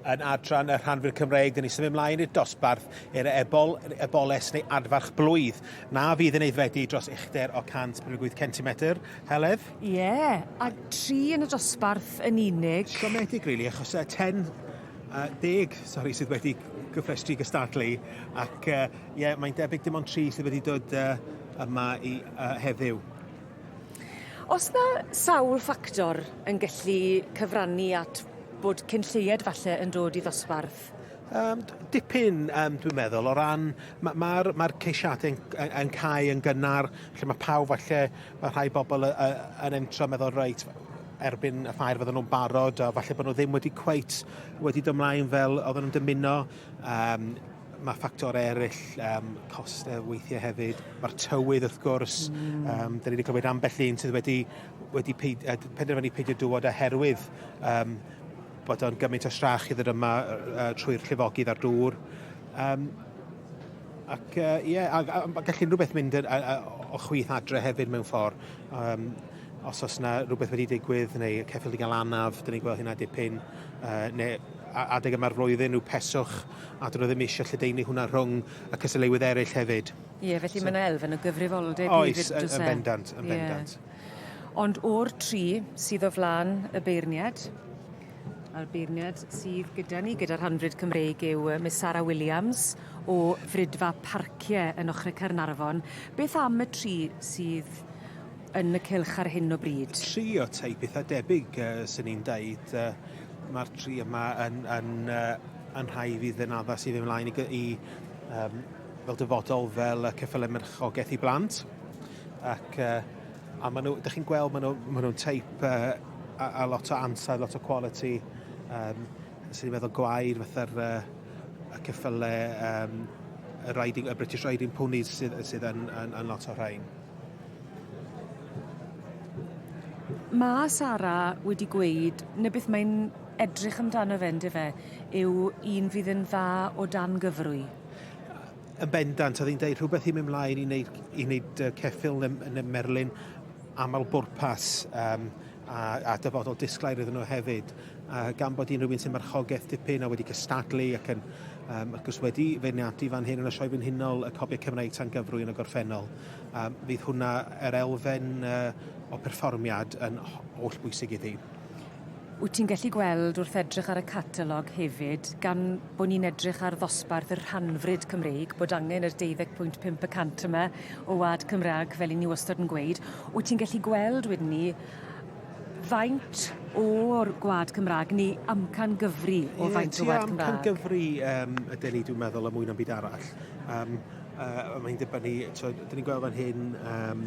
Yn adran y rhanfir Cymreig, dyn ni symud mlaen i'r dosbarth i'r ebol, eboles neu adfarch blwydd. Na fydd yn aeddfedu dros uchder o 158 centimetr, Heledd? Ie, yeah, a tri yn y dosbarth yn unig. Siomedig, really, achos uh, ten uh, deg, sori, sydd wedi gyffrestru gystadlu, ac uh, yeah, mae'n debyg dim ond tri sydd wedi dod uh, yma i uh, heddiw. Os na sawl ffactor yn gallu cyfrannu at bod cyn lleied falle yn dod i ddosbarth? Um, dipyn, um, dwi'n meddwl, o ran, mae'r ma, ma, ma ceisiadau yn, yn, yn cael yn gynnar, lle mae pawb falle, mae rhai bobl y, y, yn entro meddwl, reit, erbyn y ffair fydden nhw'n barod, a falle bod nhw ddim wedi cweit wedi dymlaen fel oedden nhw'n dymuno. Um, Mae ffactor eraill, um, costau weithiau hefyd. Mae'r tywydd, wrth gwrs. Mm. Um, da ni wedi clywed ambell un sydd wedi, wedi peid, uh, penderfynu peidio dywod oherwydd um, bod o'n gymaint o strach i ddod yma uh, trwy'r llifogydd a'r dŵr. Um, ac ie, uh, yeah, a, a, a gallu rhywbeth mynd yn, a, a, o chwith adre hefyd mewn ffordd. Um, os oes yna rhywbeth wedi digwydd neu ceffyl i gael anaf, dyn ni'n gweld hynna dipyn, uh, neu adeg yma'r flwyddyn, rhyw peswch a dyn nhw ddim eisiau lledaenu hwnna rhwng y cystadleuwydd eraill hefyd. Ie, yeah, felly so, mae yna elfen o gyfrifoldeb hefyd, Oes, yn e? bendant, yn bendant. Yeah. Ond o'r tri sydd o flan y beirniad, a'r beirniad sydd gyda ni, gyda'r hanfryd Cymreig, yw Miss Sarah Williams o Frydfa Parciau yn ochr y Cernarfon. Beth am y tri sydd yn y cylch ar hyn o bryd? Tri o tai pethau debyg, uh, sy'n ni'n dweud. Uh, Mae'r tri yma yn, yn uh, yn rhai fydd yn addas i fynd ymlaen i, i um, fel dyfodol fel y ceffylau merchogaeth i blant. Ac, uh, a maen nhw, ydych chi'n gweld, maen nhw'n nhw, nhw teip uh, a, a lot o ansau, lot o quality, um, sy'n ni'n meddwl gwair fatha'r uh, y ceffylau, um, y, riding, y British Riding Ponies sydd, sydd yn, yn, yn lot o rhain. Mae Sara wedi gweud, neu beth mae'n edrych amdano fe ynde fe, yw un fydd yn dda o dan gyfrwy. Yn bendant, oedd hi'n dweud rhywbeth i mi mlaen i wneud, i wneud uh, ceffil yn, yn y merlin aml bwrpas um, a, a dyfodol disglair iddyn nhw hefyd. A gan bod hi'n rhywun sy'n marchogaeth dipyn a wedi cystadlu ac yn um, ac os wedi feirniadu fan hyn yn y sioe frenhinol y copiau Cymraeg tan gyfrwy yn y gorffennol, um, fydd hwnna yr elfen uh, o perfformiad yn holl bwysig iddi. Wyt ti'n gallu gweld wrth edrych ar y catalog hefyd, gan bod ni'n edrych ar ddosbarth y rhanfryd Cymreig, bod angen yr 12.5 y cant yma o wlad Cymraeg, fel 'yn ni wastod yn gweud. Wyt ti'n gallu gweld wedyn 'ny faint o'r gwlad Cymraeg, neu amcan gyfri o faint o wlad Cymraeg? Ie, tua amcan gyfri um, ydy ni, dwi'n meddwl, y mwyn am byd arall. Um, uh, mae'n dibynnu, so, dyn ni'n gweld fan hyn, um,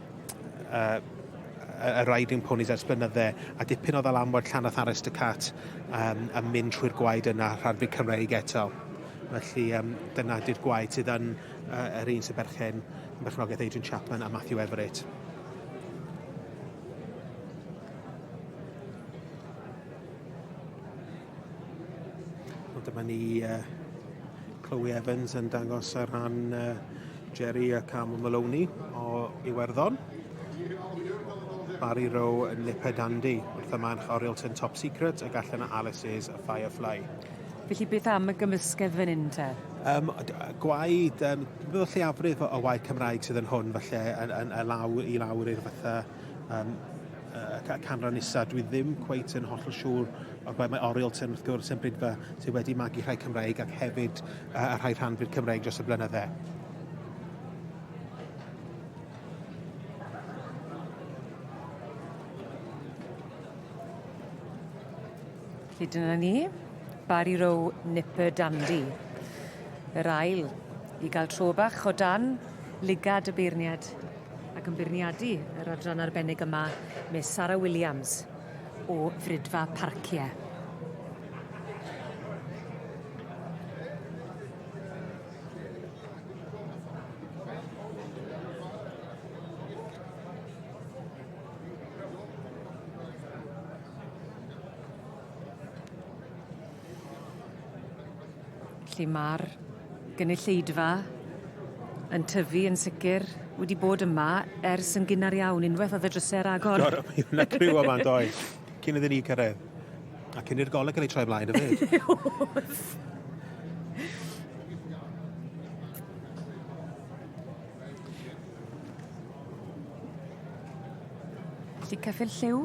uh, y riding ponies ers blynydde, a dipyn o ddalamwaith llanach Arest y Cat um, a mynd trwy'r gwaed yna rhanfu Cymreig eto. Felly um, dyna di'r gwaed sydd yn uh, yr un sy'n berchen yn berchnogaeth Adrian Chapman a Matthew Everett. Wel, dyma ni uh, Chloe Evans yn dangos ar ran uh, Jerry a Cam Maloney o Iwerddon. Barry Rowe yn Lipa Dandy wrth y manch Oriel Tyn Top Secret ac allan o Alice's a Firefly. Felly beth am y gymysgedd fan hyn te? Um, gwaed, um, bydd y lleiafrif o waed Cymraeg sydd yn hwn falle yn, yn, yn law, i lawr i'r fatha um, y canran isa, dwi ddim cweit yn hollol siŵr o ble mae Oriel Tyn wrth gwrs yn brydfa sydd wedi magu rhai Cymreig ac hefyd uh, a rhai rhan fyd Cymreig dros y blynydde. Felly dyna ni, Barry Row Nipper Dandy. Yr ail, i gael tro bach o dan lygad y beirniad ac yn beirniadu yr adran arbennig yma, mae Sara Williams o Frydfa Parcie. Felly ma'r gynulleidfa yn tyfu yn sicir wedi bod yma ers yn gynnar iawn unweth o'dd y dryse ar agor. Do mi o' 'na criw yma yn doedd? Cyn iddyn ni cyrredd. A cyn i'r goleg ga'l ei troi mlaen efyd. O'dd. Felly Cyffyrdd Lliw?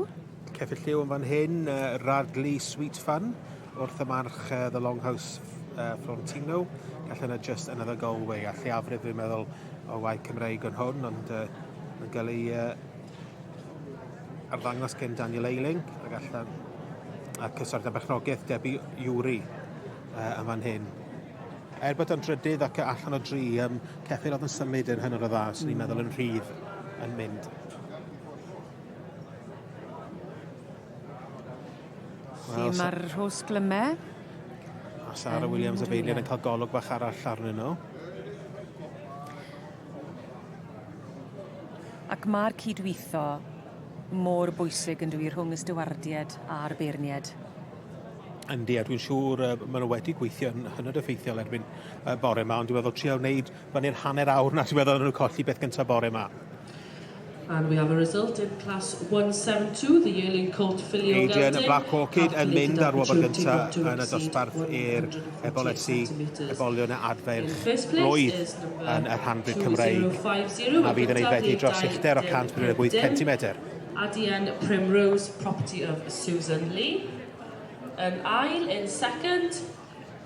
Cefyd lliw yn fan hyn, uh, Radley Sweet Fun, wrth y march uh, The Longhouse uh, Florentino. Gall yna just another Galway, a lleiafrif dwi'n meddwl o waith Cymreig yn hwn, ond uh, yn cael ei uh, arddangos gen Daniel Eiling, a gall a cyswrdd â bechnogaeth Debbie Iwri uh, yn fan hyn. Er bod o'n drydydd ac allan o dri, um, ceffyl oedd yn symud yn hynod o dda, swn i'n meddwl yn rhydd yn mynd. Lle mae'r rhos glyme. A Sara um, Williams a Beilian yn cael golwg bach arall arnyn nhw. Ac mae'r cydweithio mor bwysig yn dwi rhwng y stywardied a'r beirnied. Yndi, a dwi'n siŵr uh, maen nhw wedi gweithio'n hynod effeithiol erbyn uh, bore yma, ond dwi'n meddwl trio wneud Mae'n i'r hanner awr na diweddodd nhw colli beth gyntaf bore ma. And we have a result in Class 172, the yearling colt filly o Geltyn. Adrian Black Orchid yn mynd ar wobr gyntaf yn y dosbarth i'r ebolesi, ebolion y adferch roedd yn y rhanbryd Cymreig a fydd yn ei feddu dros uchder o 158 cm. Adrian Primrose, property of Susan Lee. Yn ail, in second,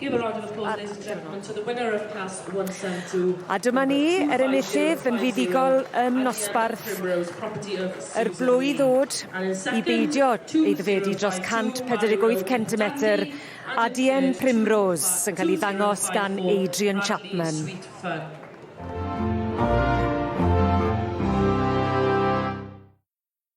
Give a round of applause, ladies and gentlemen, to the winner of Class 172. A dyma ni, yr enillydd yn fuddugol yn nosbarth yr blwydd ddod i beidio ei ddifedu dros 148 centimetr a Dien Primrose sy'n cael ei ddangos gan Adrian Chapman.